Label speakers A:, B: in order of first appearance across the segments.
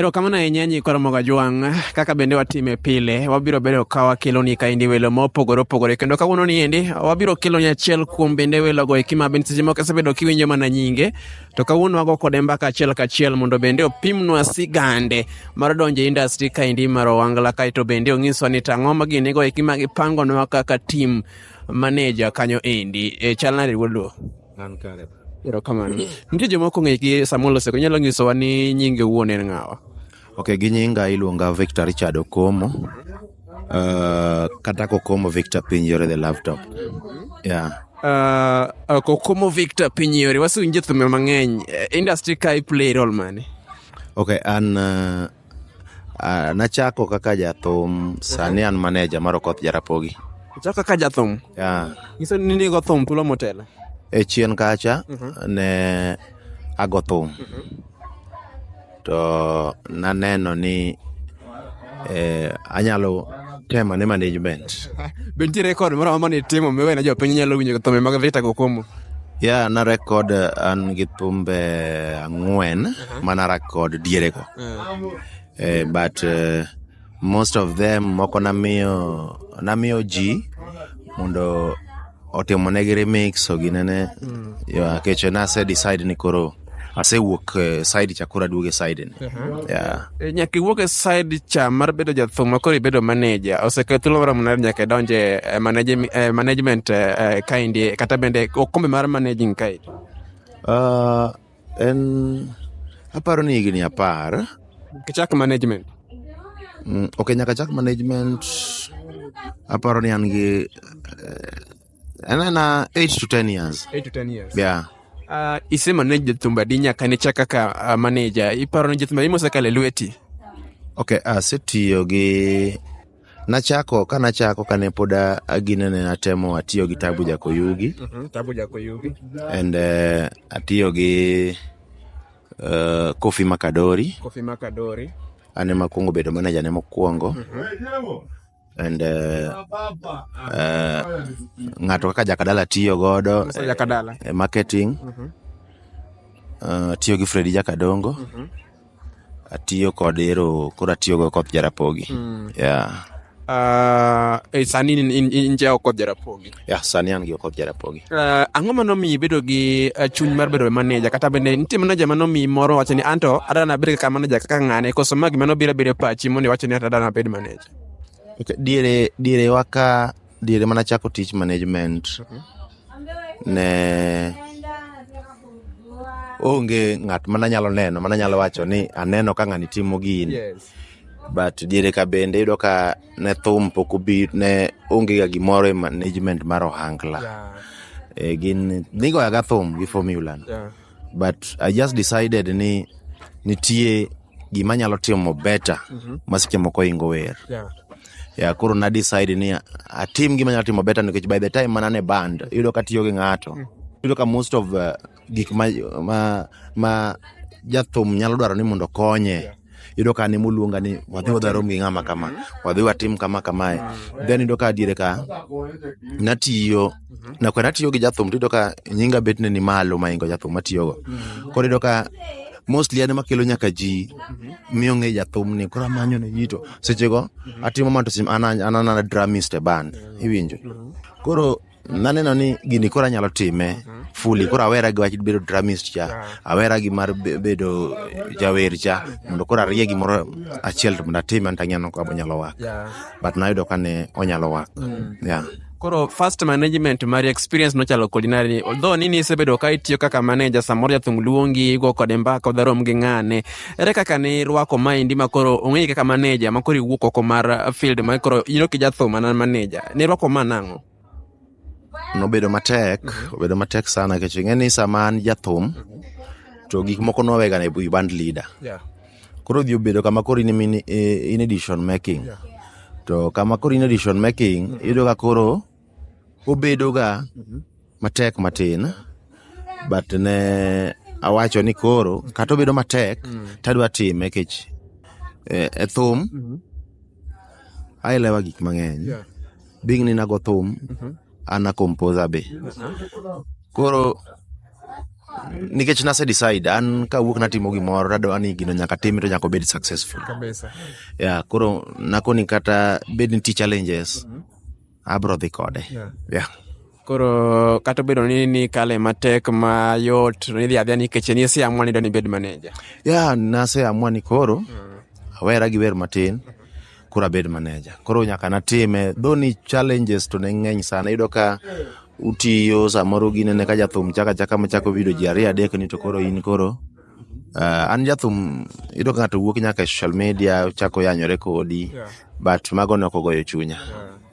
A: Erokamano ahinya nyi koro moga jwang' kaka bende watime pile wabiro bedo ka wakeloni kaendi welo mopogore opogore kendo kawuono ni endi wabiro keloni achiel kuom bende welogo eki ma bende seche moko isebedo kiwinjo mana nyinge to kawuono wago kode mbaka achiel kachiel mondo bende opimnwa sigande mar donjo e industry kaendi mar owangla kaeto bende onyiswa ni tang'o ma ginigo eki ma gipangonwa kaka tim maneja kanyo endi e chal nade wuod An kare. Erokamano. Nitie joma ok ong'e gi Samuel Oseko, inyalo nyisowa ni nyinge wuon en ng'awa? Ok, gi nyinga iluonga Victor Richard Okomo. Uh, kata Kokomo Victor Pinjore the laptop. Yeah. Uh, uh, Kokomo Victor Pinjore, wasewinje thumbe mang'eny. Eh, Industry ka i play role mane? Ok, an uh, Ah, nachako kaka jathum, sani an maneja mar Okoth Jarapogi. Ichako kaka jathum. Yeah. Nyiso ni nigo thum thuolo motelo. E chien kacha ne ago thum to naneno ni eh, anyalo Tema ne management. Be nitie rekod moro amora mane itimo miwe na jopiny nyalo winjo thumbe mag Victor Kokomo? Ya, na rekod eh, an gi thumbe ang'wen mana rekod dierego. Eh, but eh, most of them moko namiyo namiyo ji mondo otimonegi remix oginene yeah, kecho nase decide ni koro Asewuok e side cha koro aduogo e side ni. Yeah. E, Nyaka iwuok e side cha mar bedo jathum ma koro ibedo manager. Osekawo thuolo maromo nade nyaka idonje e manage- e management e, e, kaendi kata bende okombe mar managing kaendi. Ah, en aparo ni higni apar. Kichak management. Mm, ok nyaka chak management aparo ni an gi eh, Ana na 8 to 10 years. 8 to 10 years. Yeah. Uh, isema ne jathumba adi nyaka ne chak kaka uh, ah, maneja iparo ni jathumba imosekale lweti ok asetiyo gi nachako ka nachako kane pod aginene natemo atiyo gi tabu jakoyugi mm -hmm, tabu jakoyugi and uh, atiyo gi uh, kofi makadori kofi makadori ane makwongo bedo maneja ne mokwongo mm -hmm. and uh, uh, ng'ato kaka jakadala tiyo godo Sasa Jakadala. eh, marketing Mhm. uh, atiyo gi fredi jakadongo Mhm. atiyo kod ero koro atiyo go koth jarapogi Mm. yeah. Ah, eh, sani in- in- in- inje oko jarapogi yeah, sani an gi koth jarapogi Ah, ang'o ma nomiyi bedo gi ah, chuny mar bedo maneja kata bende nitie maneja ma nomiyi moro wacho ni anto adana bed kaka maneja kaka ng'ane koso ma gima nobiro abira e pachi mondo iwacho ni anto adana bed maneja Diere, diere waka, diere mana chako tich management ne onge ng'at mana nyalo neno, mana nyalo wacho ni aneno ka ng'ani timo gini. Yes. But diere ka bende iyudo ka ne thum pok obi, ne onge ga gimoro e management mar ohangla. Yeah. Eh, gin nigoya ga thum gi formula no. Yeah. but I just decided ni nitie gima nyalo timo better mm-hmm. ma seche moko ingo wer yeah. Yeah, koro na decide ni atim gima nyalo timo better nikech by the time mana ne band yudo ka tiyo gi ng'ato mm. yudo ka most of uh, gik ma, ma, ma jathum nyalo dwaro ni mondo konye yeah. yudo ka ne moluonga ni wadhi wadharom gi ng'ama kama wadhi watim kama kamae then yudo ka diere ka natiyo nakwe natiyo gi jathum to yudo ka nyinga bet ne ni malo maingo jathum matiyogo koro yudo ka mostly an makelo nyaka ji miyo ng'e jathum ni koro amanyo ne ji to sechego atimo mana to sim an an an dramist e band iwinjo koro naneno ni gini koro anyalo time fuli koro awera gi wach bedo dramist cha awera gi mar be- bedo jawer cha mondo koro arie gimoro achiel to mondo atime an tang'eyo ka onyalo wak Yeah. but nayudo ka ne onyalo wak yeah. koro first management mari experience nochalo kodi nari although nini isebedo ka itiyo kaka manager samoro jathum luongi igo kode mbaka udharom gi ng'ane ere kaka ne irwako maendi ma koro ong'eyi kaka manager ma koro iwuok oko mar uh, field ma koro ino ki jathum anan manager ne irwako ma nang'o Nobedo matek, obedo matek sana nikech ing'e ni sama an jathum to gik moko nwawega e wi band leader. Koro odhi obedo kama koro in ema in e decision making. To kama koro in e decision making, iyudo ka koro obedoga matek matin but ne awacho ni koro kata obedo matek mm. tadwa time kech e, e thum mm -hmm. ailewa gik mang'eny yeah. bing ni nago thum mm -hmm. ana composer be koro nikech nase decide an kawuok natimo gimoro tadwa ni gino nyaka time to nyaka obed successful ya yeah, koro nakoni kata bed ni ti challenges mm -hmm. abro dhi kode yeah. Yeah. koro kata obedo ni ni kale matek mayot nidhi adhia nikech ni siamua ni doni bed maneja ya yeah, naseamua ni koro mm. awera gi wer matin koro abed maneja koro nyaka natime dho ni challenges to ne ng'eny sana iyudo ka utiyo samoro ginene ka jathum chaka chaka machako vidio ji ariyo adek ni to koro in koro An jathum, iyudo ka ng'ato wuok nyaka e social media ochako yanyore kodi but mago ne ok ogoyo chunya.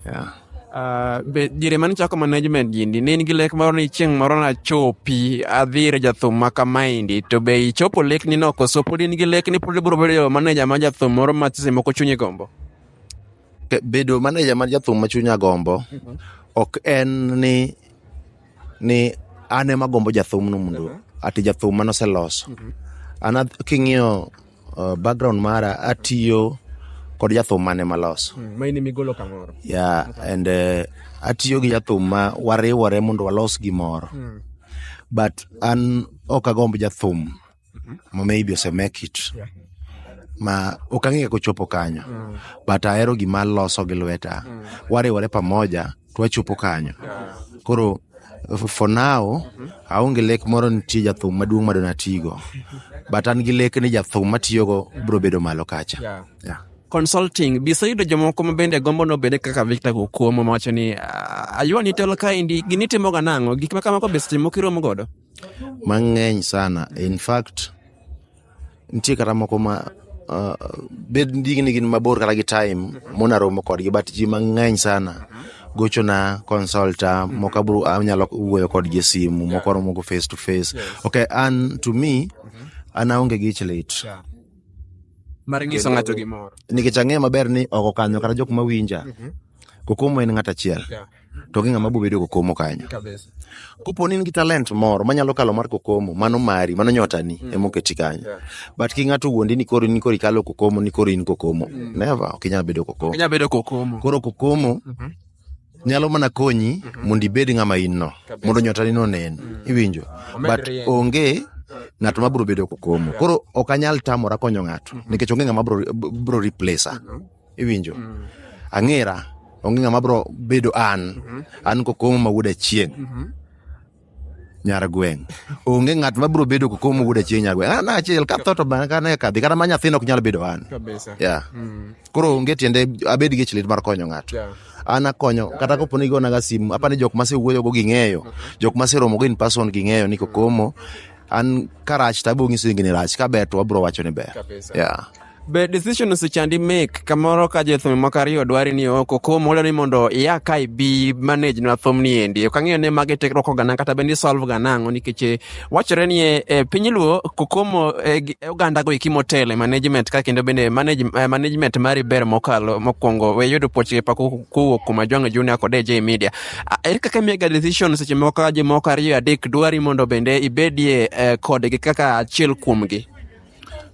A: Yeah. Uh, be diere mane chako management gini ne in gi lek moro ni chieng' moro nachopi adhi ir jathum ma kamaendi to be ichopo lekni no koso pod in gi lek ni pod ibiro bedo maneja ma jathum moro ma sese moko chunyi gombo Ke- Bedo maneja mar jathum ma chunya gombo ok en ni ni an ema agombo jathumno mondo ati jathum mane oseloso. An ath- king'iyo uh, background mara atiyo kod jathum mane maloso. maini migolo kamoro Yeah, and uh, atiyo gi jathum ma wariwore mondo walos gimoro. But an ok agomb jathum ma maybe osemek it ma ok ang'e kaka ochopo kanyo but ahero gima loso gi lweta wariwore pamoja to wachopo kanyo koro f- for now aonge lek moro nitie jathum maduong' ma donatigo but an gi lek ni jathum matiyogo biro bedo malo kacha Yeah. Yeah. consulting bisa yudo jomoko ma bende gombo no bende kaka victor gokuomo mawacho ni "Ah, aywa ni telo kaendi gini timoga nang'o gik ma kamako bisa timo kiromo godo Mang'eny sana. In fact, nitie kata moko ma uh, bed ndigi ni gin mabor kata gi time mona romo kodgi but ji mang'eny sana gochona consulta moko abro anyalo wuoyo kodgi e simu moko aromo go face to face okay an to me an aonge gi ich lit Mar nyiso ng'ato gimoro. nikech ang'eyo maber ni oko kanyo kata jok mawinja kokomo en ng'at achiel Yeah. to onge ng'ama bobedo kokomo kanyo. Kabisa. Kopo ni in gi talent moro manyalo kalo mar kokomo, mano mari, mano nyotani mm. ema oketi kanyo. Yeah. But ki ng'ato wuondi ni koro ni koro ikalo kokomo, ni koro in kokomo. Mm. Never, ok inyal bedo kokomo. Inyal bedo kokomo. Koro kokomo mm -hmm. nyalo mana konyi mm -hmm. mondo ibed ng'ama in no, mondo nyotani no nen. Mm. Iwinjo? But onge ng'ato ma biro bedo kokomo. Koro ok anyal tamora konyo ng'ato mm-hmm. nikech onge ng'ama biro replacer. Mm-hmm. iwinjo ang'era onge ng'ama bro bedo an an kokomo ma wuod achieng' nyar gweng' onge ng'at ma bro bedo kokomo ma wuod achieng' nyar gweng' an achiel ka tho to bana ka ne kadhi kata ma nyathina ok nyal bedo an kabisa yeah. koro onge tiende abed gi chlit mar konyo ng'ato Yeah. an akonyo kata kopo ni gonaga simu apa ni jok masewuoyogo ging'eyo jok maseromogo in person ging'eyo ni kokomo an karach to abonyiso ingini rach kaber to wabro wacho ni ber Kabisa. yeah. Be decision osechandi make kamoro ka jothum moko ariyo dwari ni oko kom olo ni mondo ia ka ibi manage na thum ni endi. Ok ang'eyo ne mage tekruok ogana kata bendi solve ga nang'o nikech eh, wachore ni e, e, piny luo kokomo e, gi- e oganda go iki motele management ka kendo bende manage, eh, management mari ber mokalo mokwongo we yudo puoch pa ku- kuwuok kuom ajwang'o junior kod AJ media. Ah, Ere kaka miyaga decision seche moko ka jomoko ariyo adek dwari mondo bende ibedie eh, kodgi kaka achiel kuomgi?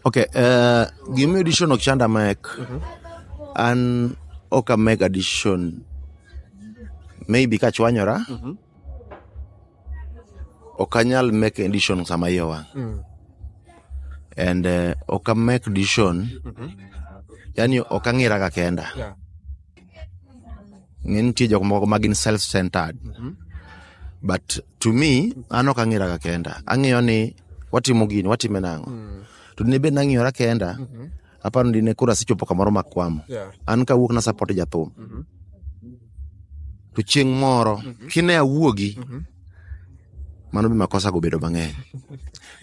A: Okay, uh, gimiyo edition ok chanda mek. Mhm. An ok ameg edition. Maybe ka chwanyora. Mhm. Ok anyal mek edition sama iye wang'. Mm. And uh, ok amek edition. Mhm. Yani ok ang'ira ka kenda. Yeah. ng'e nitie jok moko magin self centered mm-hmm. but to me an ok ang'iraga kenda ang'eyo ni watimo gini watime nang'o mm. to dine bed nang'iyora kenda mm-hmm. aparo dine koro asechopo kamoro makwamo yeah. an kawuok na support jathum mm-hmm. to chieng' moro mm-hmm. kine awuogi mm-hmm. mano be makosa go bedo mang'eny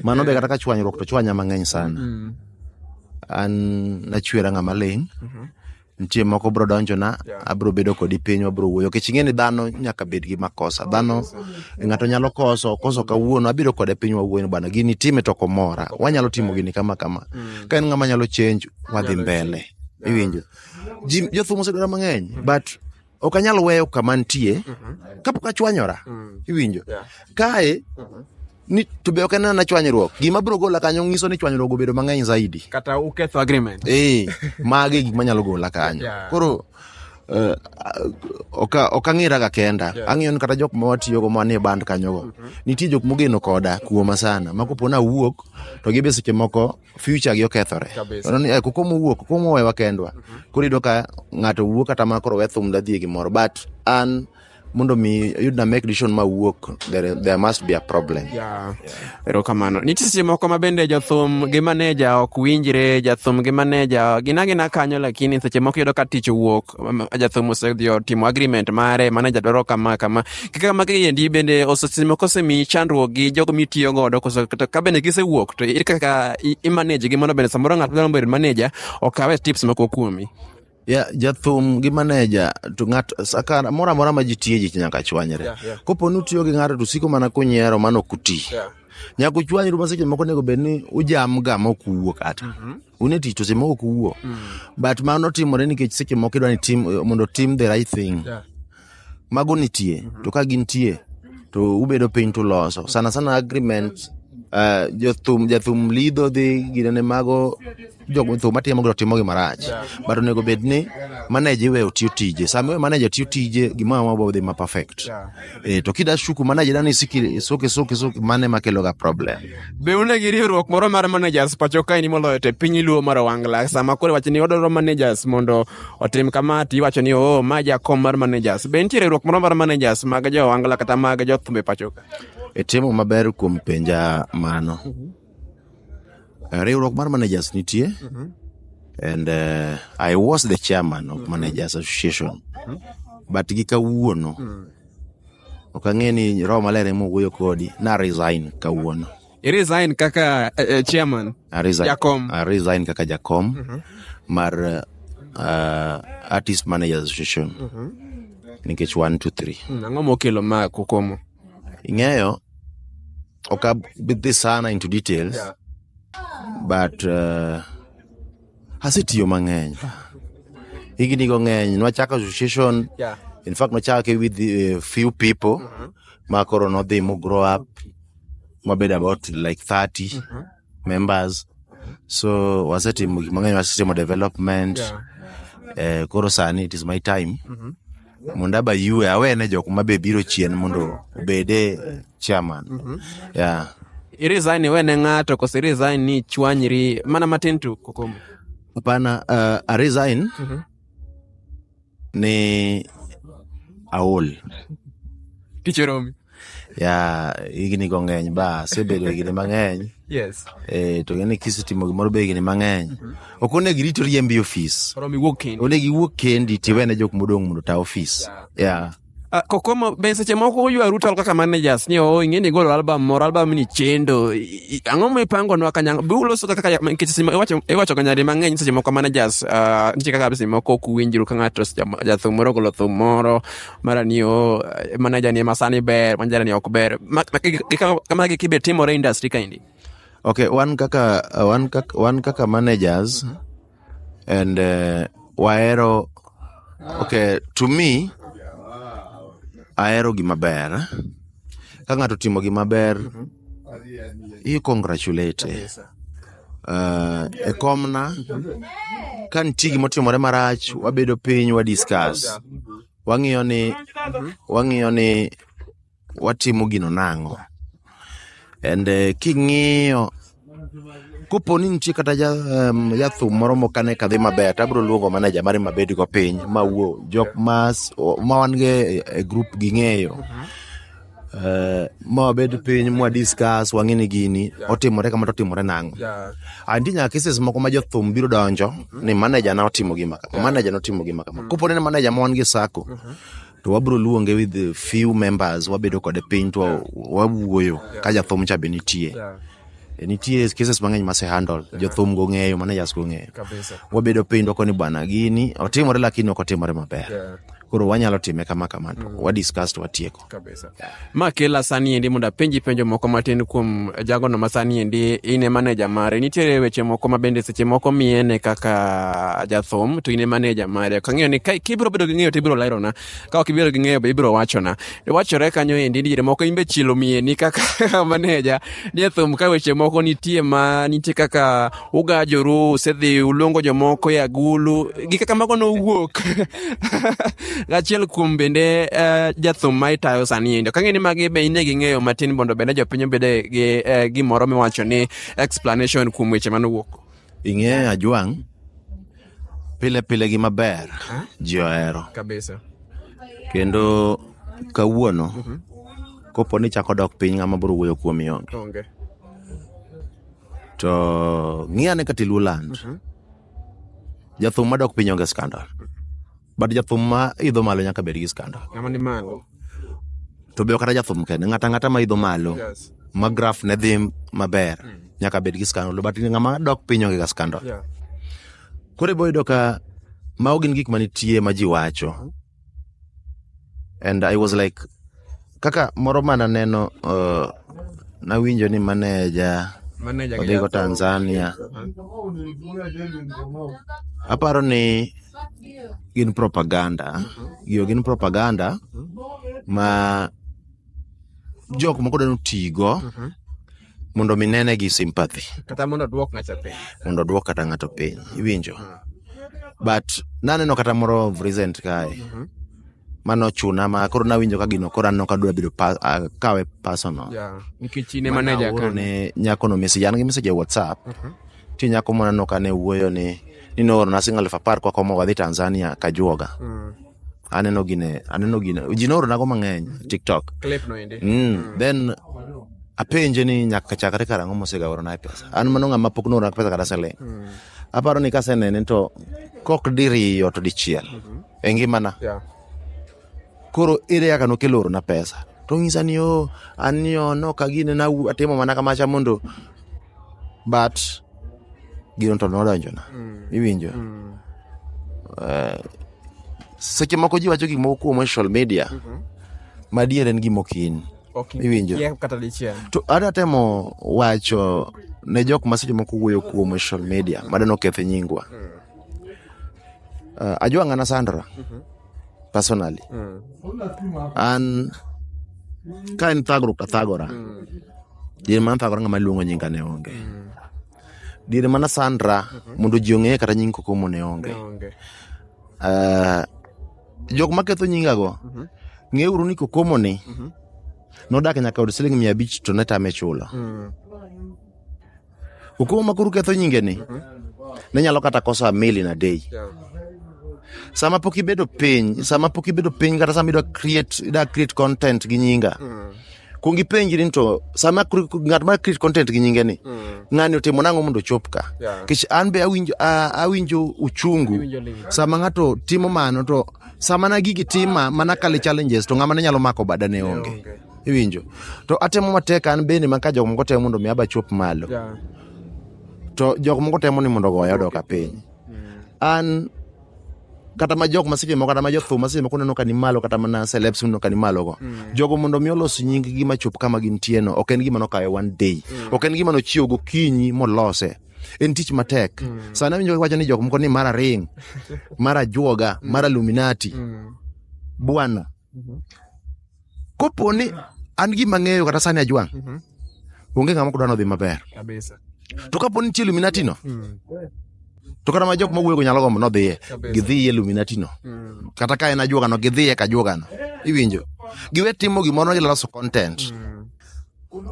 A: mano be kata ka chwanyruok to chwanya mang'eny sana mm-hmm. an nachwera ng'ama ling' mm-hmm. nitie moko bro donjona abro bedo kodi piny wabro wuoyo kech ing'e ni dhano nyaka bed gi makosa dhano ng'ato nyalo koso koso kawuono abiro kode piny wawuoyo ni bwana gini time to komora wanyalo timo gini kama kama mm. ka en ng'ama nyalo change wadhi mbele iwinjo jothum osedwara mang'eny but ok anyal weyo kama nitie kapok achwanyora iwinjo kae ni to be ok anena chwanyruok gima biro gola kanyo nyiso ni chwanyruok obedo mang'eny zaidi kata uketho agreement eh mage gik manyalo gola kanyo Yeah. koro eh, ok ok ang'iraga kenda ang'iyo ni kata jok ma watiyogo ma nie band kanyogo nitie jok mogeno koda kuoma sana ma koponi awuok to gibe seche moko future gi okethore Kabisa. Iyudo ni, eh, koko mowuok koko mowewa kendwa koro iyudo ka ng'ato wuok kata ma koro we thum dadhi e gimoro but an mondo mi ayud na make decision ma wuok there, there must be a problem Yeah. erokamano nitie seche moko ma bende jothum gi maneja ok winjre jathum gi maneja gina gina kanyo lakini seche moko iyudo ka tich owuok um, jathum osedhi otimo agreement mare maneja dwaro kama kama kaka magi endi bende osesimo kosemi chandruok gi jogo mitiyo godo koso to ka bende gisewuok to ere kaka i- imanage gi mondo bende samoro ng'ato dwaro bedo maneja okawe tips moko kuomi ya jathum gi maneja to ng'at saka moro amora ma ji tiye ji nyaka chwanyre Yeah, yeah. kopo ni utiyo gi ng'ato to siko mana kunyiero mano ok uti Yeah. nyaka uchwanyru ma seche moko onego bed ni ujam ga ma ok uwuo kata un e tich to seche moko ok uwuo but mano timore nikech seche moko idwa ni tim mondo tim the right thing Yeah. mago nitie to ka gintie to ubedo piny to uloso sana sana agreement Uh, jothum jathum lidho dhi ginene mago jothum matimo go timo gi marach but onego bed ni manager iwe otiyo tije sama iwe manager tiyo tije gima ma bo dhi ma perfect eh, to kida shuku manager dani siki soke soke soke mane makelo ga problem Be une gi riwruok moro mar managers pacho kae ni moloyo te piny luo mar Wangla sama koro wach ni odoro managers mondo otim kama to iwacho ni oh, ma jakom mar managers. Be nitie riwruok moro mar managers mag jo Angla kata mag jo thumbe pachoka? Itimo e maber kuom penja mano. Mhm. Eh, riwruok mar managers nitie. Mhm. And uh, I was the chairman of mhm. managers association. But gi kawuono. Mm. Ok ang'e ni Roho Maler ema owuoyo kodi. Na resign kawuono. Resign kaka uh, chairman. I resign, Jakom. I resign kaka Jakom mm -hmm. mar uh, Artist Managers Association mm -hmm. nikech 1 2 3. Ang'o mokelo ma kukomo? Ing'eyo ok abidhi sana into details yeah. but uh, asetiyo mang'eny higni go ng'eny nwachako association yeah. in fact nwachake with uh, few people mm -hmm. ma koro nodhi mo grow up wabed about like 30 mm -hmm. members so wasetimo gik mang'eny wasetimo development yeah. eh, koro sani it is my time mm -hmm mondo aba yue awene jok ma be biro chien mondo obede chairman mm -hmm. yeah. irisign iwene ng'ato koso irisign ni chwanyri mana matin tu kokomo hapana uh, aresign mm -hmm. ni aol Tich oromi. ya higni go ng'eny ba asebedo higni mang'eny Yes. eh, to ng'eni kisetimo gimoro be higni mang'eny ok onego irito riembi ofis Oromi wuok kendi. onego iwuog kendi tiwene jok modong' mondo ta ofis ya Ah, kokomo be seche moko uywaru tal kaka managers ni oo ing'e ni igolo album moro album ni chendo I- i- ang'o mipangonwa kanyang be uloso kaka kanyang- nikech seche mo- iwacho- iwachoga nyadi mang'eny seche moko managers ah, nitie kaka seche moko ok uwinjru ka ng'ato seche mo- jathum moro ogolo thum moro mara ni o manager ni masani ber manager ni ok ber Ma- ma- gi- gi- kama- kama giki be timore e industry kaendi okay wan kaka wan kaka wan kaka managers and uh, wahero okay to me ahero gima ber ka ng'ato timo gima ber you congratulate uh, e komna ka nitie gima otimore marach wabedo piny wa discuss wang'iyo ni wang'iyo ni watimo gino nang'o. And eh, king'iyo kopo ni nitie kata ja, um, jathum moro mokane kadhi maber tabro luongo maneja mare mabed go piny mawuo jok mas o- ma wan go e e group ging'eyo Eh, ma wabed piny mwa discuss wang'e ni gini otimore kama to otimore nang'o Yeah. anti nyaka cases moko ma jothum biro donjo ni maneja na otimo gima kama maneja na otimo gima kama kopo ni en maneja ma wan gi sako to wabiro luonge with the few members wabedo kode piny to wawuoyo ka jathum cha be nitie yeah. E, nitie cases mang'eny mase handle jothum go ng'eyo mana jas go ng'eyo wabedo piny dwako ni bwana gini otimore lakini ok otimore maber yeah. koro wanyalo time kama kama to mm. wadiscuss to watieko Makela sani endi mondo apenji penjo moko matin kuom jagono ma sani endi in e maneja mare. Nitiere weche moko ma bende seche moko miye ne kaka jathum to in e maneja mare. Ok ang'eyo ni ka kibiro bedo gi ng'eyo to ibiro lerona. Ka ok ibiro gi ng'eyo be ibiro wachona. E wachore kanyo endi ni moko in be chielo miyeni kaka maneja ni e thum ka weche moko nitie ma nitie kaka ugajoru usedhi uluongo jomoko e agulu gi kaka mago nowuok achiel kuom bende uh, jathum ma itayo sani endo kang'e ni magi be ine gi ng'eyo matin mondo bende jopiny obede gi uh, gimoro miwacho ni explanation kuom weche manowuok ing'eyo ajwang' pile pile gi maber ji ohero kabisa kendo kawuono mm -hmm. kopo ni chako dok piny ng'ama biro wuoyo kuom ionge okay. to ng'i ane kata iluo land jathum madok piny onge skandal but jathum ma idho malo nyaka bed gi skandal Ng'ama ni malo. to be ok kata jathum kende ng'ata ng'ata ma idho malo Yes. ma graf ne dhi maber nyaka bed gi skandal but ng'ama dok piny onge ga skandal Yeah. koro ibo yudo ka mago gin gik manitie ma ji wacho and I was like kaka moro mana neno uh, nawinjo ni maneja odhigo Tanzania aparo ni gin propaganda giyo gin propaganda ma jok moko dwani otigo mondo mi nene gi sympathy kata mondo duok ng'ato piny mondo duok kata ng'ato piny iwinjo but naneno kata moro of recent kae mhm. mano chuna ma koro nawinjo ka gino koro anno kadwa bedo kawe personal nikech ine manager kan ne nyako no message an gi message e whatsapp mhm. ti nyako mona no kane wuoyo ni ni nooro na single elfu apar kwa komo wadhi Tanzania kajuoga mm. aneno gine aneno gine ji nooronago mang'eny tiktok Clip no ende. mm. then apenje ni nyaka chakre karang'o mosegaoronae pesa an mano ng'ama pok noorona pesa kata siling aparo ni kasenene to kok diriyo to dichiel e ngimana Yeah. koro ere kaka nokelo orona pesa to ng'isa ni o an ni o no ka gine na atimo mana kamacha mondo but gino to nodonjona iwinjo Eh, seche moko ji wacho gik moko kuom social media mhm. madier en gima okin iwinjo to ada temo wacho ne jok ma seche moko wuoyo kuom social media madano okethe nyingwa mm. uh, ajua ng'ana sandra mhm. personally mm. an ka en thagruok tathagora mm. din man thagora ng'ama luongo nyinga ne onge Diere mana Sandra mhm. mondo ji ong'eye kata nying kokomo ne onge. Eh, jok ma ketho nyingago, mhm. ng'e uru ni kokomo ni mhm. nodak nyaka od siling mia abich to ne tame chulo. Mm. Kokomo ma kuru ketho nyinge ni, ne nyalo kata kosa mili na day. sama pok ibedo piny sama pok ibedo piny kata sama ida create ida create content gi nyinga mm. kuong ipenjri ni to sama kri- ng'at ma create content gi nyinge ni ng'ani otimo nang'o mondo ochop ka Yeah. nikech an be awinjo a- awinjo uchungu Iwinjo lit. sama ng'ato timo mano to sama na gigi tima mana kale challenges to ng'ama ne nyalo mako bada ne onge iwinjo to atemo matek an bende ma ka jok moko temo mondo mi aba chop malo Yeah. to jok moko temo ni mondo goya odoka piny an kata ma jok ma seche moko kata ma jothum ma seche moko neno ka ni malo kata mana celebs neno ka ni malo go mm. jogo mondo mi olos nying gi ma chop kama gintie no ok en gima nokawe one day mm. ok en gima nochiewo gokinyi molose en tich matek mm. sani awinjo wacho ni jok moko ni mara ring mara juoga mm. mara luminati mm. bwana Kopo ni an gima ng'eyo kata sani ajwang', Mhm. onge ng'ama ok dwa nodhi maber. Kabisa. To kapo ni nitie Illuminati no, Mm. to kata ma jok ma wuoyo go nyalo gombo nodhiye, Kabisa. gidhiye Illuminati no. Mm. Kata ka en ajuoga no, gidhiye ka ajuoga no. Iwinjo? Giwe timo gimoro ni giloso content. Mm.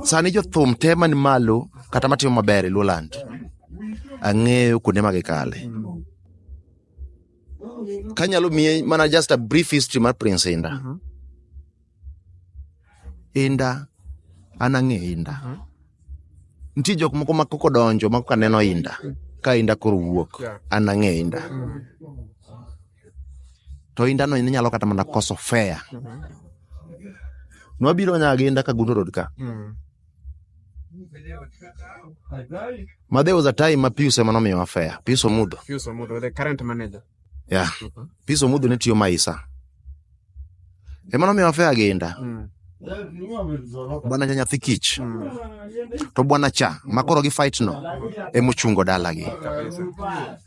A: Sani jothum te man malo kata matimo maber e Luoland, ang'eyo kuonde ma gikale. Kanyalo miye mana just a brief history mar Prince Inda. Uh -huh. Inda, an ang'e Inda. Uh -huh. Nitie jok moko ma koko donjo ma koka neno Inda. Uh -huh. Ka Inda koro wuok, yeah. an ang'e Inda. Uh -huh. To Inda no inyalo kata mana koso fair. Uh -huh. Nwabiro nyaga Inda ka Gundo Road ka. Uh -huh. Ma there was a time ma Pius ema nomiyowa fare. Pius Omudho. Pius Omudho, the current manager. Yeah. Mhm. Pius Omudho ne tiyo Maisa. Ema nomiyowa fare aginda. Mm. Bwana cha nyathi kich. Mm. To bwana cha makoro gi fight no ema ochungo dalagi.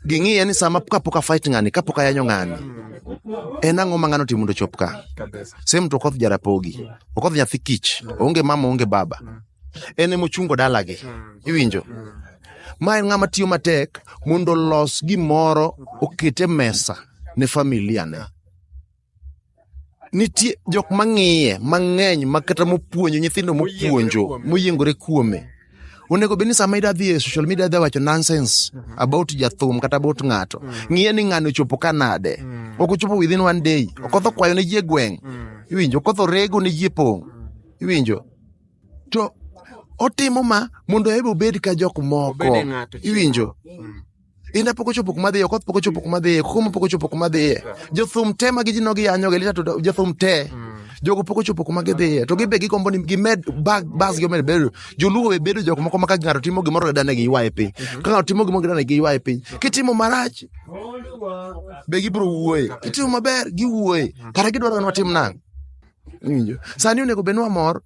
A: Ging'iye ni sama kapok a fight ng'ani, kapok ayanyo ng'ani, en ang'o ma ng'ano timo mondo ochop ka. Kabisa. Same to koth Jarapogi. ok odhi nyathi kich oonge mama oonge baba en ema ochungo dalagi iwinjo ma en ng'ama tiyo matek mondo olos gimoro okete mesa ne familia ne nitie jok mang'iye mang'eny makata mopuonjo nyithindo mopuonjo moyiengore kuome onego bed ni sama ida dhi e social media da wacho nonsense mm -hmm. about jathum kata about ng'ato mm -hmm. ng'iye ni ng'ano chopo ka nade mm -hmm. ok ochopo within one day mm -hmm. okotho kwayo ne ji e gweng' mm -hmm. iwinjo okotho rego ne ji e pong' mm -hmm. iwinjo to otimo ma mondo ebe obed ka jok moko iwinjo mm -hmm. Inda pok ochopo kuma dhiye, okoth pok ochopo kuma dhiye, kuma pok ochopo kuma dhiye. Jothum te ma gijino giyanyo gi lita to jothum te. Jogo pok ochopo kuma gidhiye. To gibe gigombo ni gimed bag bas gi omed bedo. Joluo be bedo jok moko ma ka ng'ato timo gimoro to dane giywaye piny. Ka ng'ato timo gimoro to dane giywaye piny. Kitimo marach be gibiro wuoye. Kitimo maber giwuoye. Kata gidwaro ni watim nang'. Iwinjo? Sani onego bed ni wamor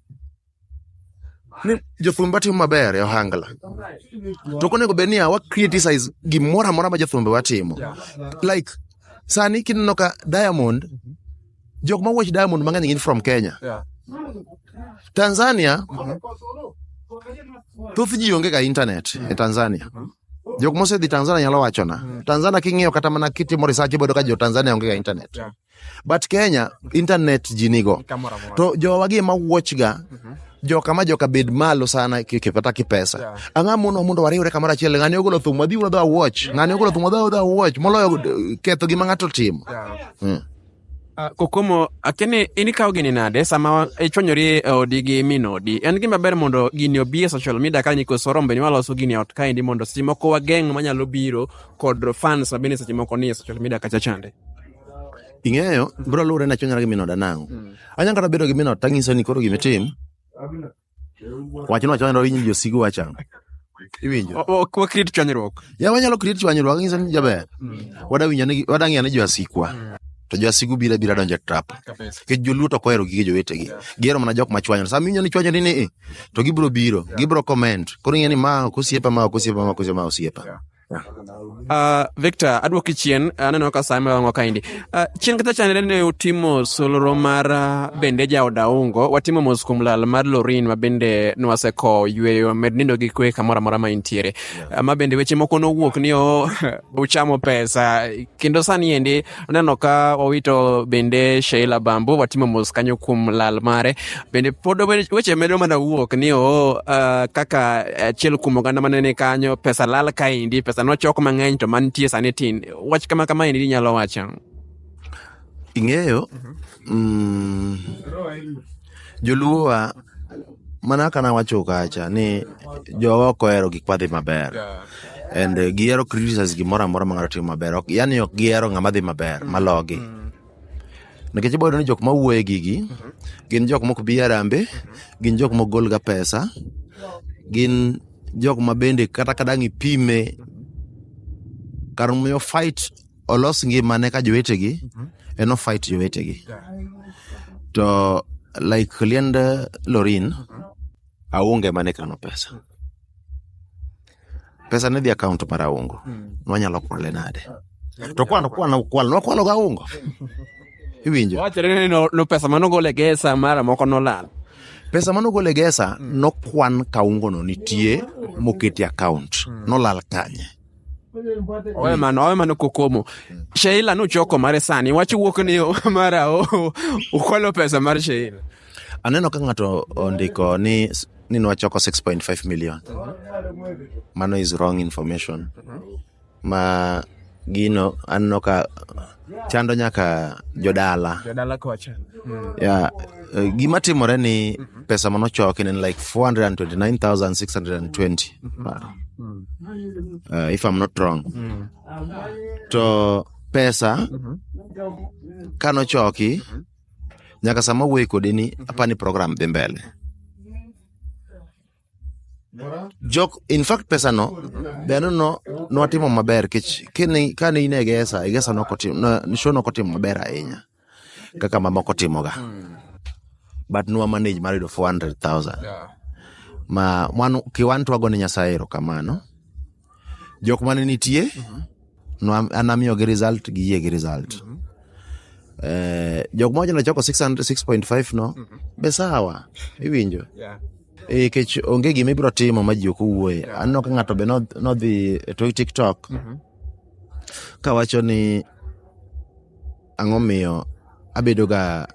A: ni jothumbe watimo maber e ohangla to konego bed niya wa criticize gimoro amora ma jothumbe watimo like sani kineno ka diamond jok ma watch diamond mang'eny gin from kenya tanzania thoth ji onge ga internet e tanzania jok mosedhi tanzania nyalo wachona tanzania king'iyo kata mana kitimo research ibodo ka jo tanzania onge ga internet but kenya internet ji nigo Kamoro amora. to jowa gi ema wuochga joka ma joka bed malo sana ki- ki- kata kipesa Yeah. ang'a mono mondo wariwre kamoro achiel ng'ani ogolo thum wadhi wadhi awuoch ng'ani ogolo thum wadhi wadhi awuoch moloyo eh, ketho gima ng'ato timo Mm. Ah, kokomo akene in ikawo gini nade sama wa- ichwanyori e odi gi min odi en gima ber mondo gini obi e social media ka nikos orombe ni waloso gini e ot kaendi mondo seche moko wageng' manyalo biro kod fans ma bende seche moko ni e social media kacha chande Ing'eyo, bro luwore na chonyara gi min oda nang'o. Mm. Anyalo kata bedo gi min ot tang'iso ni koro gima itim. Wachno wachno winjo ji osigo wacha. Iwinjo. O- o- Wakrit chwanyruok. Ya wanyalo create chwanyruok ng'iso ni jaber. Wada winjo ni wada ng'iyo ni jo asikwa. To jo asigu bira bira donjo e trap. Nikech joluo to ok ohero gige jowetegi. Gihero mana jok ma chwanyore. Sama iwinjo ni chwanyore ni i, to gibiro biro, gibiro comment. Koro ing'e ni ma ok osiepa, ma ok osiepa, ma ok osiepa, ma osiepa. Uh, Victor, adwoki chien, aneno ka same wang'o kaendi. Uh, chien kata chanere ne utimo solro mar ah, bende jaoda ungo, watimo mos kuom lal mar Lorin ma bende nwaseko yweyo med nindo gi kwe kamoro amora ma intiere. Ah, Ma bende weche moko nowuok ni o uchamo pesa kendo sani endi Aneno ka wawito bende Sheila Bambo watimo mos kanyo kuom lal mare. Bende pod weche medo mana wuok ni o uh, kaka achiel kuom oganda mane ni kanyo pesa lal kaendi, pesa nochok mang'eny to mantie sani tin. Wach kama kama endi inyalo wacho. Ing'eyo, Mm, joluowa mana kaka nawacho kacha ni jowa ok ohero gik madhi maber and eh, gihero criticize gimoro amora ma ng'ato timo maber Ok- yani ok gihero ng'ama dhi maber malogi nikech ibo yudo ni jok mawuoye gigi gin jok mok bi arambe gin jok mok golga pesa gin jok ma bende kata kadang' ipime kar miyo fight olos ngimane ka jowetegi mhm. en ofight jowetegi to like liend lorin mhm. aonge mane kano pesa mhm. pesa ne dhi akaont mar aungo nwanyalo kwale nade to kwano kwano kwal nwakwalo ga aungo iwinjo wachore ni no pesa manogol e gesa mara moko nolal pesa mane ogol e gesa nokwan ka ungono nitie moketi akaont nolal kanye owe mano owe mano kokomo sheila nuchoko mare sani wach wuok ni mara o- ukwalo pesa mar sheila aneno ka ng'ato ondiko ni s- ni nwachoko 6.5 million mano is wrong information ma gino aneno ka chando nyaka jodala jodala kocha mm. yeah. Uh, gima timore ni mm -hmm. pesa manochoki en like 429620 mm -hmm. mm. uh, if i'm not wrong mm. to pesa mm -hmm. kanochoki mm -hmm. nyaka sama wuoyi kodi ni mm -hmm. apani program dhi mbele jok in fact pesa no bende no nwatimo maber kech kane kane in egesa egesa nokotimo show nokotimo maber ahinya kaka mamoko timoga but nwa manage mar yudo 400000 ma mwan kiwan twago ne nyasaye erokamano jok mane nitie mm-hmm. no, anamiyogi result gi yie gi result mm-hmm. eh, jok moja nachoko 6.5 no mm-hmm. be sawa iwinjo yeah. Eh, kech onge gima ibiro timo ma ji ok owuoye yeah. aneno ka ng'ato be nodhi e to tiktok mm-hmm. kawacho ni ang'o miyo abedoga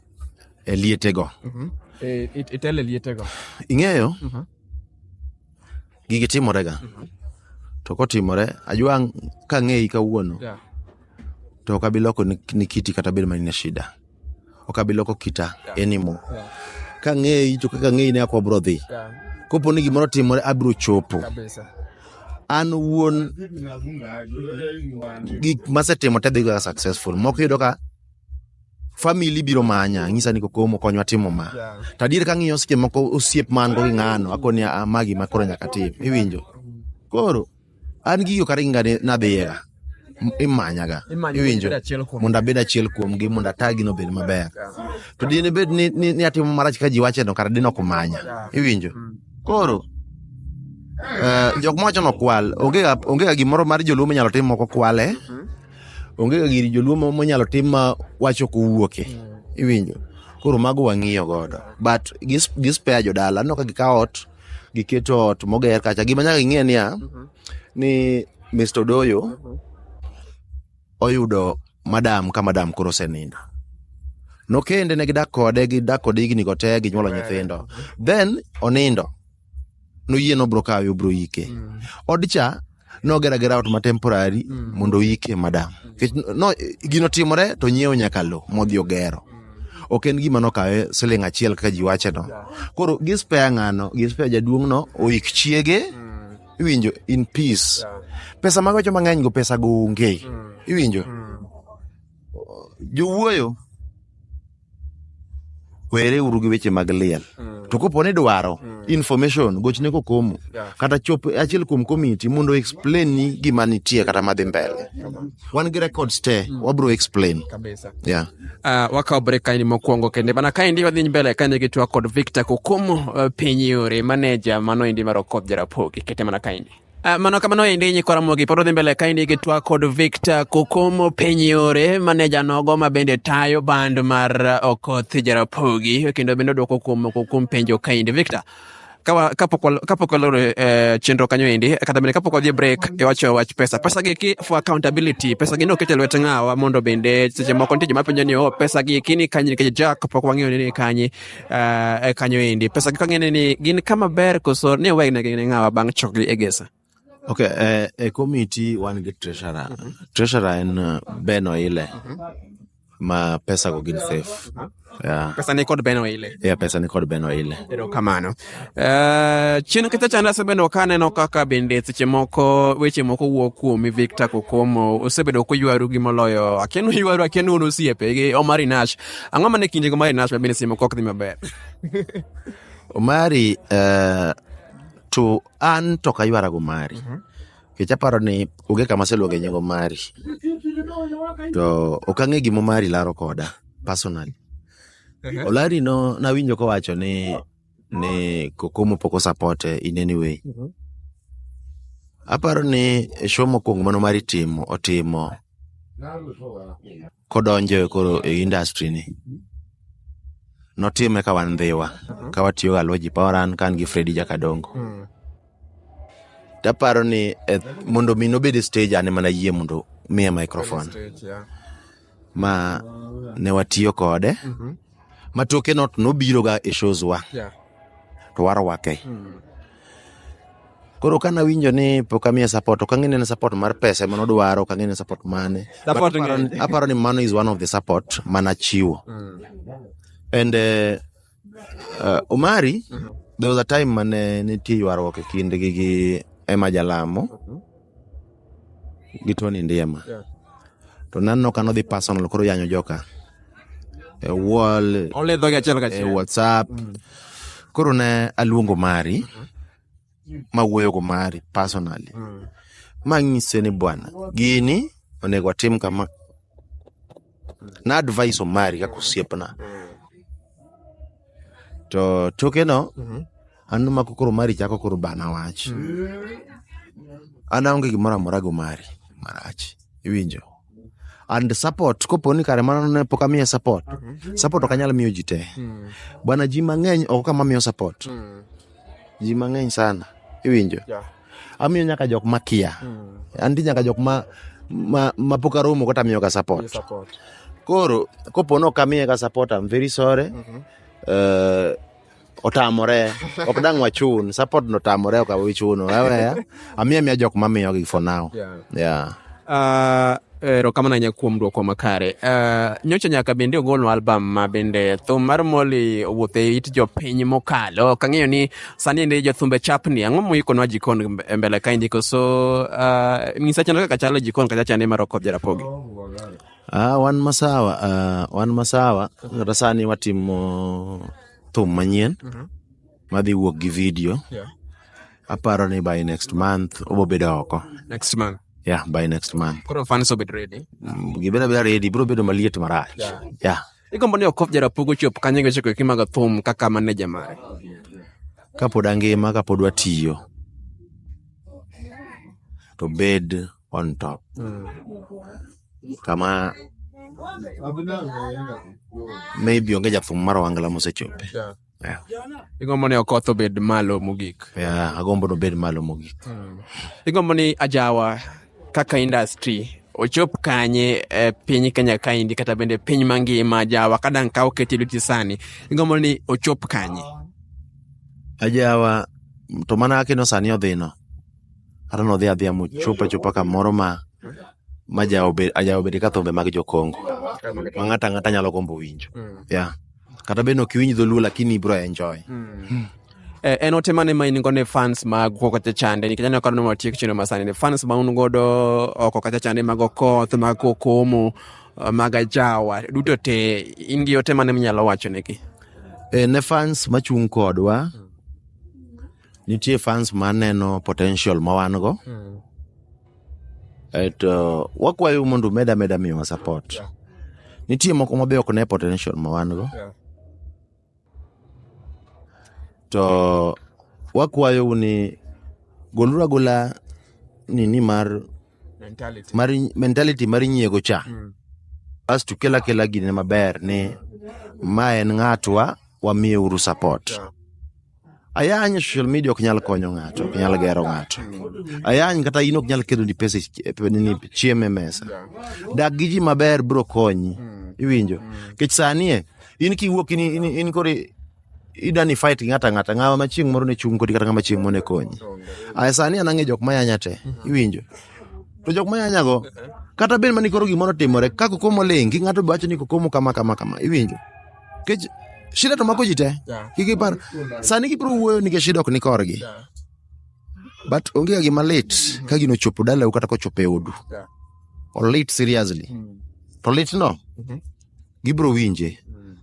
A: e lietego mm-hmm. e, e, e lietego ing'eyo mm-hmm. gigi timore ga mhm. to kotimore ajua kang'eyi kawuono to ok abi loko ni kiti kata bed mani na shida ok abi loko kita enimo kang'eyi to kaka ng'eyi ne ako abro dhi kopo ni gimoro timore abiro chopo an wuon gik masetimo te dhiga successful moko yudo ka famili biro manya ng'isa ni kokomo konywa timo ma to adier ka ng'iyo seche moko osiep man go gi ng'ano akoni a ah, ma gima koro nyaka tim iwinjo koro an gigo kata ginga nadhiyega imanyaga iwinjo mondo abed achiel kuomgi mondo atagi no bed maber to dine bed ni, ni, ni atimo marach ka ji wache no kata dine ok manya iwinjo mm. koro uh, jok mowacho no kwal onge ga gimoro mar joluo minyalo tim moko kwale mm -hmm. onge ga giri joluo ma- monyalo tim ma wacho kowuoke iwinjo koro mago wang'iyo godo but gis- gispeya jodala aneno ka gikawo ot giketo ot moger kacha gima nyaka ing'e niya ni mr odoyo oyudo madam ka madam koro osenindo nokende ne gidak kode gidak kode higni go te ginyuolo nyithindo then onindo noyie nobro kawe obro yike mm. odcha nogera gera ot ma temporary mm. mondo oyike madam mm. no, gino timore to nyiewo nyaka lo modhi ogero mm. ok en gima nokawe siling achiel kaka ji wache no koro gispeya ng'ano gispeya jaduong' no oyik chiege mm. iwinjo in peace yeah. pesa mag wacho mang'eny go pesa go onge mm. iwinjo mm. jowuoyo were uru gi weche mag liel mm. to kopo ni dwaro mm. information gochne kokomo yeah. kata chop achiel kuom komiti mondo explain ni gima nitie kata madhi mbele wan gi records te mm. wabro explain kabisa yeah uh, wakawo break kaini mokwongo kende mana kaendi wadhi mbele kane gi twak kod victor kokomo uh, piny yore maneja mano endi mar okop jarapogi kete mana kaendi Uh, mano kamano endi nyikwa Ramogi pod odhi mbele kaendi gi twak kod Victor Kokomo Penyore maneja nogo ma bende tayo band mar eh, Okoth Jarapogi kendo bende odwoko kuom moko kuom penjo kaendi Victor kapok waloro eh, chenro kanyo endi kata bende kapok wadhi break iwacho wach pesa pesa gi ki for accountability pesa gi ne oket e lwet ng'awa mondo bende seche moko nitie joma penjo ni o oh, pesa gi kini kanye nikech jack pok wang'eyo ni kanye uh, e kanyo endi pesa gi kang'ene ni gin kama ber koso ni owegnegi ne ng'awa bang' chokgi e gesa ok eh, e komiti wan gi treasurer mm -hmm. treasurer en eh, ben oile mm -hmm. ma pesa go gin safe mm -hmm. yeah. pesa ni kod ben oile yeah, pesa ni kod ben oile erokamano Eh, chien kacha chande asebedo ka aneno kaka bende seche moko weche moko wuok kuomi victor kokomo osebedo koywaru gi moloyo aken uywaru aken un osiepe gi omari nash ang'o mane kinde gi omari nash ma bende seche moko ok dhi maber omari eh, to an to kaywara go mari kech aparo ni onge kama aseluonge nying omari to ok ang'e gima omari laro koda personally Ehe. Olari no nawinjo kowacho ni ni Kokomo pok osapote in any way. Mhm. Aparo ni e show mokwongo mano mar itimo otimo kodonjo e koro e industry ni. Notime ka wan dhiwa, ka watiyo ga Luoji Poweran kan gi Freddy Jakadongo. Mm. Taparo ni eh, mondo mi nobed e stage ane mana yie mondo miye microphone. Stage, yeah. ma ne watiyo kode mm-hmm. ma toke not nobiroga e shows wa yeah. to warwake mm. koro ka nawinjo ni pok amiye support ok ang'e ne support mar pesa ema nodwaro ok ang'e ne support mane aparo ni mano is one of the support manachiwo mm. and uh, Uh, Omari, there was a time mane nitie ywaruok e kindgi gi Emma Jalamo gi Tony Ndiema. To naneno ka nodhi personal koro yanyo joka. E wall, Oledho gi achiel e kachiel. WhatsApp. Koro ne aluongo Mari mawuoyogo mari personally mm. mang'ise ni bwana gini onego atim kama na advice omari kaka osiepna to tokeno mm-hmm. an mako koro mari chako koro bana wach mm. an aonge gimoro amora go mari marach iwinjo and support kopo ni kare mano ne pok amiye support support ok anyal miyo ji te bwana ji mang'eny ok kama miyo support ji mang'eny sana iwinjo Yeah. amiyo nyaka jok makia anti nyaka jok ma ma, ma pok aromo kata amiyo ka support Yes, support. koro kopo ni ok amiye ka support I'm very sorry Eh, otamore ok dang wachun support no tamore ok awichuno weweya amiya miya jok mamiyogi for now yeah, yeah. Uh, erokamano ahinya kuom dwoko makare uh, nyocha nyaka bende ogolno album ma bende thum mar moli owuoth e it jopiny mokalo ok ang'eyo ni sani ndi jothumbe chapni ang'o moikonwa jikon e mbele kaendi koso uh, ng'isa chano kaka chalo jikon kacha chane mar okop jarapogi uh, wan masawa uh, wan masawa kata sani watimo thum manyien Mhm. madhi wuok gi video Yeah. aparo ni by next month obo bedo oko Next month. yeah by next month Koro fans obed ready. Mm, gibeda beda ready bro bedo maliet marach Yeah. yeah Igombo ni Okoth Jarapugo chop kanye gi chiko kimaga thum kaka maneja mare. kapod angima kapod watiyo to bed on top kama maybe onge jathum mar wangla mosechope yeah. igombo ni okoth obed malo mogik yeah, agombo ni obed malo mogik hmm. igombo ni ajawa kaka industry ochop kanye e piny kenya kaendi kata bende piny mangima ajawa ka dang' ka oketi e lweti sani igombo ni ochop kanye ajawa to mana kino sani odhino kata nodhi adhiya mochopo achopa kamoro ma ma jaobedo ka thumbe mag jokongo ma ng'ato ang'ata nyalo gombo winjo hmm. yeah. kata bed ok iwinj dholuo lakini ibro enjoy hmm. Hmm. Eh, en ote mane ma in go ne fans mag oko kacha chande nikech aneno ka noma tiek chino masani ne fans ma un godo oko kacha chande mag okoth mag kokomo eh, mag ajawa duto te in gi ote mane minyalo wacho negi eh, ne fans machung' kodwa Nitie fans ma neno potential ma wan go. Mm. Aeto wakwayo mondo umed ameda miyowa support. Yeah. Nitie moko ma be ok ne potential ma wan go. Yeah. To wakwayo ni goluru agola nini mar mentality mar, mentality mar nyiego cha. Mm. Asto kela kela gine maber ni ma en ng'atwa wamiye uru support. Yeah. Ayany social media ok nyal konyo ng'ato, ok nyal gero ng'ato. Ayany kata in ok nyal keto ni pesa ni chiemo e mesa. Dak gi ji maber bro konyi. Iwinjo? Kech sani e, in kiwuok in, in, in kore idani fight gi ng'ata ng'ata ng'ama ma chieng' moro ne chung' kodi kata ng'ama chieng' moro ne konyi. Aya sani an ang'e jok mayanya te. Iwinjo? To jok mayanya go kata bed mani koro gimoro timore ka kokomo ling' gi ng'ato bacho ni kokomo kama kama kama. Iwinjo? Nikech shida to mako ji te. Yeah. Kik ipar. Sani gibiro wuoyo nikech shida ok ni korgi. Yeah. But onge ga gima lit ka gino chopo dalau kata kochopo e odu. Yeah. Olit seriously. To litno gibiro winje.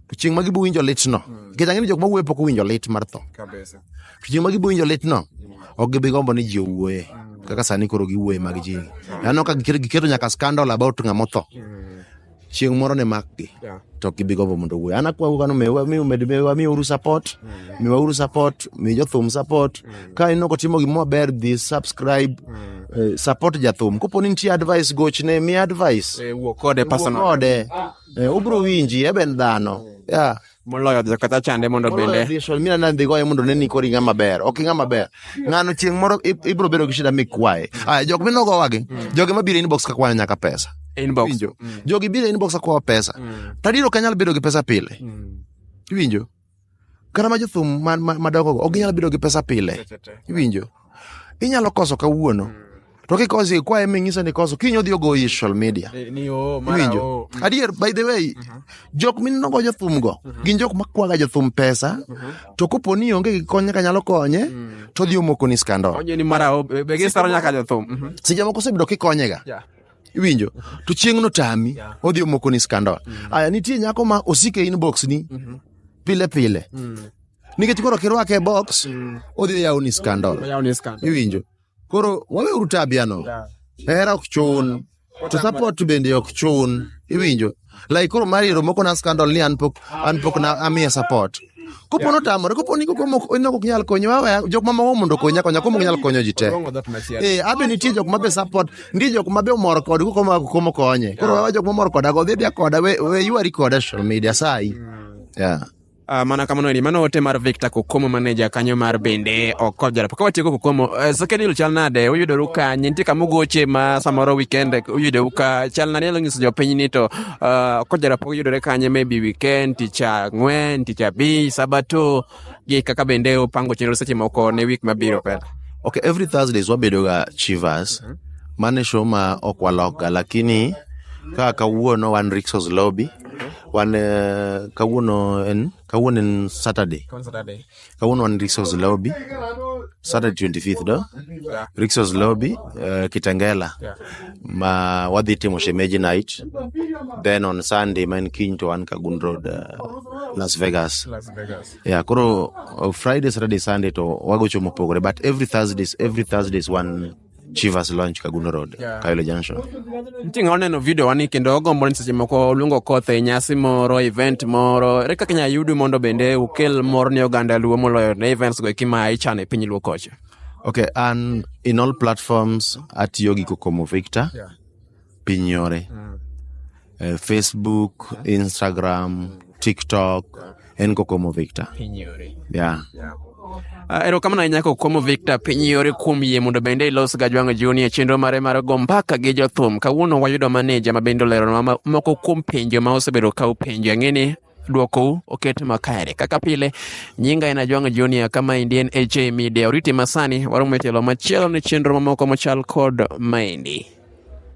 A: To chieng' ma gibiro winjo litno. Nikech ang'e ni jok ma wuoyo pok owinjo lit mar tho. Kabisa. To chieng' ma gibiro winjo litno ok gibi gombo ni ji owuoye. Kaka sani koro giwuoye mag ji. Aneno ka giketo nyaka scandal about ng'ama otho. chieng' moro ne makgi yeah. to ok gibi gombo mondo owuoyo an akwau kano miwauru support mm. miwauru support mi jothum support mm. ka ineno kotimo gima maber dhi subscribe mm. eh, support jathum kopo ni nitie advice gochne mi advice eh, wuo kode personal kode eh, ubro winji eben dhano mm. yeah. moloyo dhi kata chande mondo Moloyo bende dhi shol, mina nandi goye mondo neni kori ng'ama ber ok ing'ama ber ng'ano chieng' moro ib- ibiro bedo gi shida mikwaye aya jok minogowagi jogi mabiro e inbox kakwana nyaka pesa inbox Iwinjo? jogi biro e inbox akwawa pesa tadiro ok anyal bedo gi pesa pile iwinjo kata ma jothum ma- ma- madongogo ok ginyal bedo gi pesa pile iwinjo inyalo koso kawuono mm. to kikosi ikwaye ming'ise ni koso kiny odhi ogo e social media eh, iwinjo mm. adier by the way mm-hmm. jok minenogo jothumgo mm-hmm. gin jok makwaga jothum pesa mm-hmm. to kopo ni onge gi kony kanyalo konye mm. to odhi omokoni skandol seche moko osebedo kikonyega iwinjo to chieng'no tami odhi omokoni skandol aya nitie nyako ma osike inbox ni pile pile nikech koro kirwake e box odhi yawo ni scandal Oyawo ni scandal. iwinjo koro waweuru tabiano hera ok chun to support bende ok chun iwinjo like koro mar iro moko na scandal ni an pok an pok na amiye support kopo notamore kopo ni koko mok onok ok nyal konyo wawe jok mamoko mondo okonya konya komo ok nyal konyo ji te Orongo dhot machielo. Eh, abe nitie jok mabe support nitie jok mabe omor kod koko ma komo konye koro wawe jok mamor koda go dhi dhi koda we we yuari koda social media sai yeah Uh, mana kamano ni mano ote mar Victor Kokomo maneja kanyo mar bende ok jarap ka watieko Kokomo uh, eh, Sekedil chal nade uyudoru kanye nitie kama ugoche ma samoro weekend uyudoru ka chal nade nyalo nyiso jopiny ni to uh, ok jarap uyudore kanye maybe weekend tich ang'wen tich abich sabato gi kaka bende upango chenro seche moko ne week mabiro pela okay every Thursdays wabedoga Chivas mm -hmm. mane show ma ok walokga lakini kaka kawuono wan Rixos Lobby Wan eh, kawuono en kawuono en Saturday. Saturday. Kawuono wan Rixos Lobby. Saturday 25th do. Yeah. Rixos Lobby uh, Kitengela. Yeah. Ma wadhi timo shemeji night. Then on Sunday ma en kiny to wan Kagun Road uh, Las Vegas. Las Vegas. Yeah, koro uh, Friday, Saturday, Sunday to wagocho mopogore but every Thursdays, every Thursdays wan Chivas Lounge Kagundo Road, yeah. Kayole Junction. Mtinga oneno video wani kendo ogombo ni seche moko luongo koth e nyasi moro, event moro. Ere kaka inyalo yudu mondo bende ukel mor ne oganda Luo moloyo ne events go eki ma ichano e piny Luo kocha? Okay, and in all platforms atiyo gi Kokomo Victor. Yeah. piny yore Eh, facebook instagram tiktok en kokomo victor yeah. Ah, erokamano ahinya kokomo victor piny yore kuom yie mondo bende ilos gajwang'o juni e chenro mare mar go mbaka gi jothum kawuono wayudo maneja ma bende oleronwa ma- moko kuom penjo ma osebedo ka upenjo ang'eni dwokou oket makare kaka pile nyinga en ajwang'o junior kama endi en ha media oriti masani waromo e tielo machielo ne chenro mamoko machal kod maendi